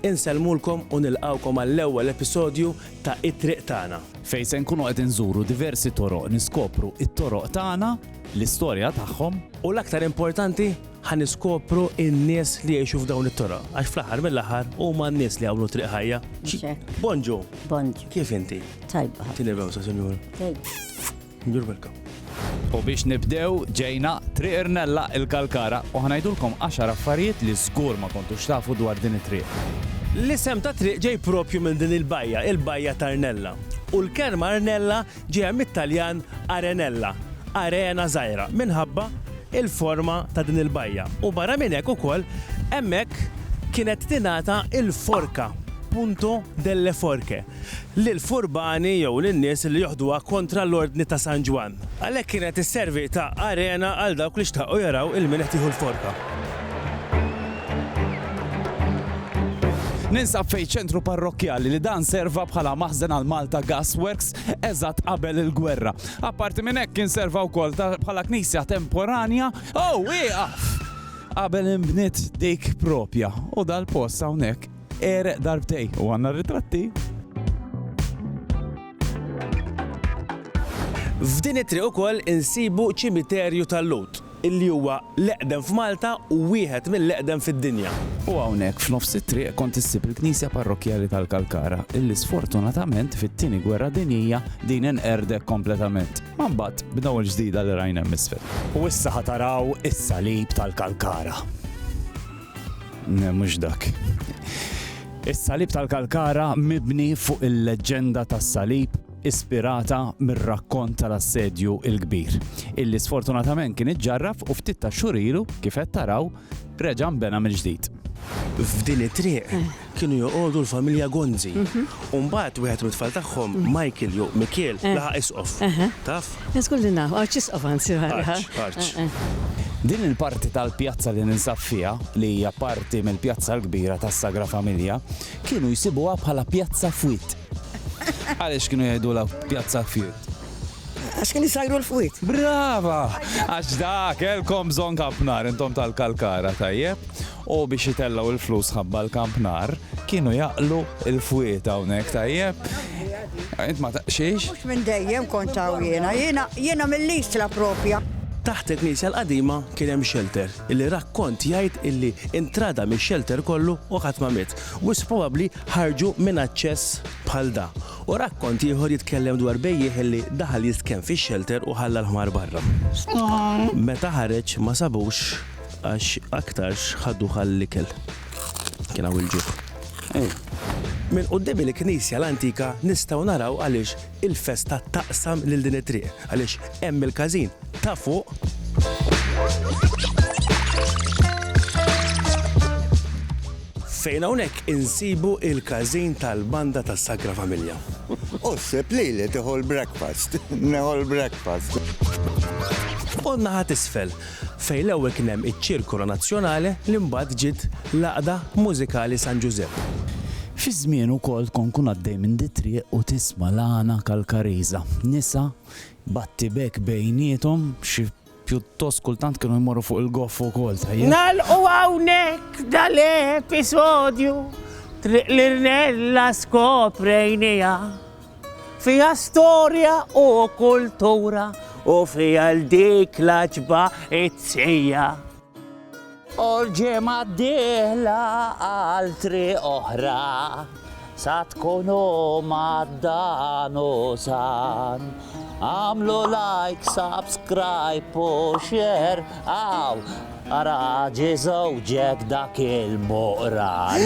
Insellmulkom u nilqgħukom għall-ewwel episodju ta' It-Triq Tagħna. Fejn se nkunu qed inżuru diversi toroq niskopru t-toroq tagħna, l-istorja tagħhom. U l-aktar importanti, ħa niskopru n-nies li jgħixu f'dawn it-toroq, għax fl-aħħar mill-aħħar huma n-nies li għamlu triq ħajja. Bonġu. Bonġu. Kif inti? Tajba. Tinibgħu sa sinjur. Tajba. You're welcome. U biex nibdew ġejna Triq Irnella il-Kalkara u ħanajdulkom għaxar affarijiet li żgur ma kontux tafu dwar din it-triq. L-isem tat-triq ġej proprju minn din il-bajja, il-Bajja ta' Rnella. U l-kelma Rnella ġejja mit-Taljan arenella, arena żgħira, minħabba l-forma ta' din il-bajja. U barra minn hekk ukoll hemmhekk kienet tingħata l-forka, punto delle forche, lill-furbani jew lin-nies li joħduha kontra l-Ordni ta' San Ġwann. Għalhekk kienet isservi ta' arena għal dawk li xtaqu jaraw il-min qed jieħu l-forka. Ninsab fejn ċentru parrokkjali li dan serva bħala maħżen għal Malta Gas Works eżatt qabel il-gwerra. Apparti minn hekk kien serva wkoll ta' bħala knisja temporanja. Ow, ieqaf! Qabel inbniet dik proprja u dal-post hawnhekk Għereq darbtej u għandna ritratti. F'din it-triq ukoll insibu ċimiterju tal-Lhud, illi huwa l-eqdem f'Malta u wieħed mill-eqdem fid-dinja. U hawnhekk f'nofs it-triq kont issib il-Knisja Parrokkjali tal-Kalkara, illi sfortunatament fit-Tieni Gwerra Dinjija din inqerdek kompletament. Ma mbagħad b'daw il-ġdida li rajna hemm isfel. U issa ħa taraw is-salib tal-Kalkara. Ne, mhux dak. Is-salib tal-Kalkara mibni fuq il-leġġenda tas-salib ispirata mir-rakkont tal-assedju il-kbir, illi sfortunatament kien iġġarraf u ftit ta' xurilu kif qed taraw reġa' nbena mill-ġdid. F'din it-triq, kienu joqogħdu l-familja Gonzi. U mbagħad wieħed mit-tfal tagħhom, Michael jew Mikiel, laħaq isqof. Taf? Żgur li naf, arċisqof anzi. Arċ, arċ. Din il-parti tal-pjazza li ninsab fiha, li hija parti mill-pjazza l-kbira tas-Sagra Familja, kienu jsibuha bħala pjazza fwied. Għaliex kienu jgħidulha pjazza fwied? Għax kien isajru l-fwied. Brava! Għax da kellkom bżonn ħafna intom tal-kalkara, tajjeb. U biex jitellgħu l-flus ħabba l-kamp nar, kienu jaqlu l-fwied hawnhekk, tajjeb? Int ma taqxiex? Mhux minn dejjem kont hawn jiena, jiena jiena mill-Isla propja. Taħt il-knisja l-qadima kien hemm xelter, illi rakkont jgħid illi intrada mix-xelter kollu u ħadd ma miet. Wisq probabbli ħarġu minn aċċess bħal da. U rakkont ieħor jitkellem dwar bejjiegħ illi daħal jistkenn fix-xelter u ħalla l-ħmar barra. Meta ħareġ ma sabux. Għax aktarx ħaduh għall-ikel. Kien hawn il-ġuħ. Minn quddiem il-knisja l-antika nistgħu naraw għaliex il-festa taqsam lil din it-triq, għaliex hemm il-każin ta' fuq. Fejn hawnhekk insibu il-każin tal-banda tas-Sagra Familja. Osseb lili tieħu l-breakfast, neħu l-breakfast. U n-naħa t'isfel, fejn l-ewwel kien hemm iċ-Circolo Nazionale li mbagħad ġiet l-Għaqda Mużikali San Ġużepp. Fi żmienu wkoll tkun tkun għaddej minn dit-triq u tisma' l-għana Kalkariża. Nisa, battibekk bejniethom, xi pjuttost kultant kienu jmorru fuq il-goff ukoll, tajjeb. Nagħlqu hawnhekk dal-episodju, Triq l-Irnella skoprejniha. Fiha storja u kultura u fiha l dik l-għaġba it-tqija. U l-ġimgħa d-dieħla għal triq oħra sa tkunu mad-dan u san. Għamlu like, subscribe u share għaw ara ġi żewġek dak il-muqran.